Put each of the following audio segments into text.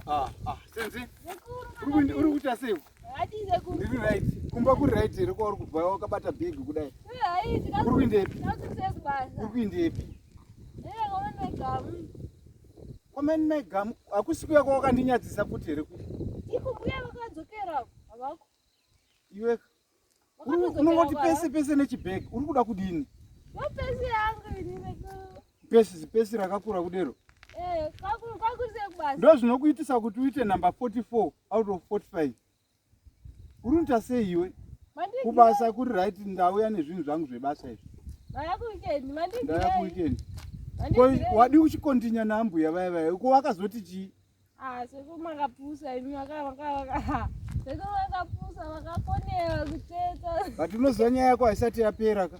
Ah, ah, senzi uri kuita sei ndiri right kumba kuri right here kwauri kubva wakabata big kudai uri kuindepi uri kuindepi kwamani mai gamu hakusi kuya kwawakandinyatsisa futi here iwe unongoti pese pese nechibag uri kuda kudini pesi pesi rakakura kudero eh, ndo zvinokuitisa kuti uite number 44 out of 45 uri unoita sei iwe kubasa kuri right ndauya nezvinhu zvangu zvebasa izvi ndaya kuweekend wadii uchikontinya naambuya vaya vaya ko wakazoti chii Ah, seko makapusa imi makavakavaka seko makapusa vakakonera kuteta but unoziva nyaya yako haisati yapera ka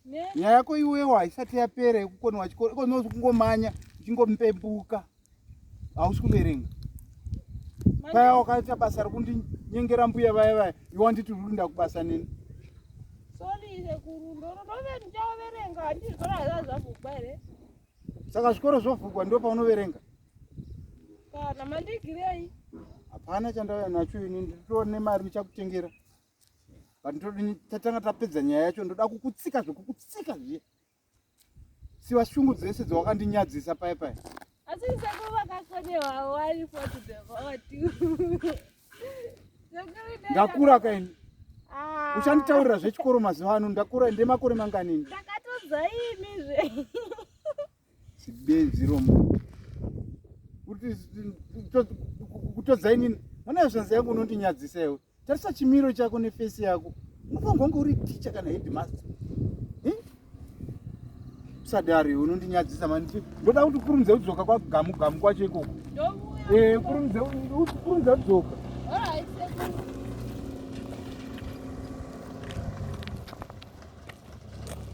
nyaya yako iwewo haisati yapera yekukonewa chikoro iko unozi kungomanya uchingomupepuka hausi kuverenga paya wakaita basa rekundinyengera mbuya vaya vaya iwe wanditi uri kuinda kubasa neni sori sekuru ndonove ndichaoverenga handizvona hazazvakuba here Saka zvikoro zvovhurwa ndipo paunoverenga? Kana mandigirei? Hapana chandauya nacho ini ndiritora nemari ndichakutengera. But ndodini tatanga tapedza nyaya yacho ndoda kukutsika zvekukutsika zviye. Siwa shungu dzese dzawakandinyadzisa paye paye. Asi sekuva kakone wawo wari for the vote. ndakura kaini ah. uchanditaurira zvechikoro mazuva ano ndakura ndi makore mangani ndakatozaimizve sibenziro mu kutodzainini mwana yezvanzi yangu unondinyadzisa iwe tarisa chimiro chako nefesi yako unofanirwa kunge uri ticha kana headmaster sadari unondinyadzisa mani ndoda kuti ukurumidze kudzoka kwagamu gamu kwacho ikoko eh, ukurumidze kudzoka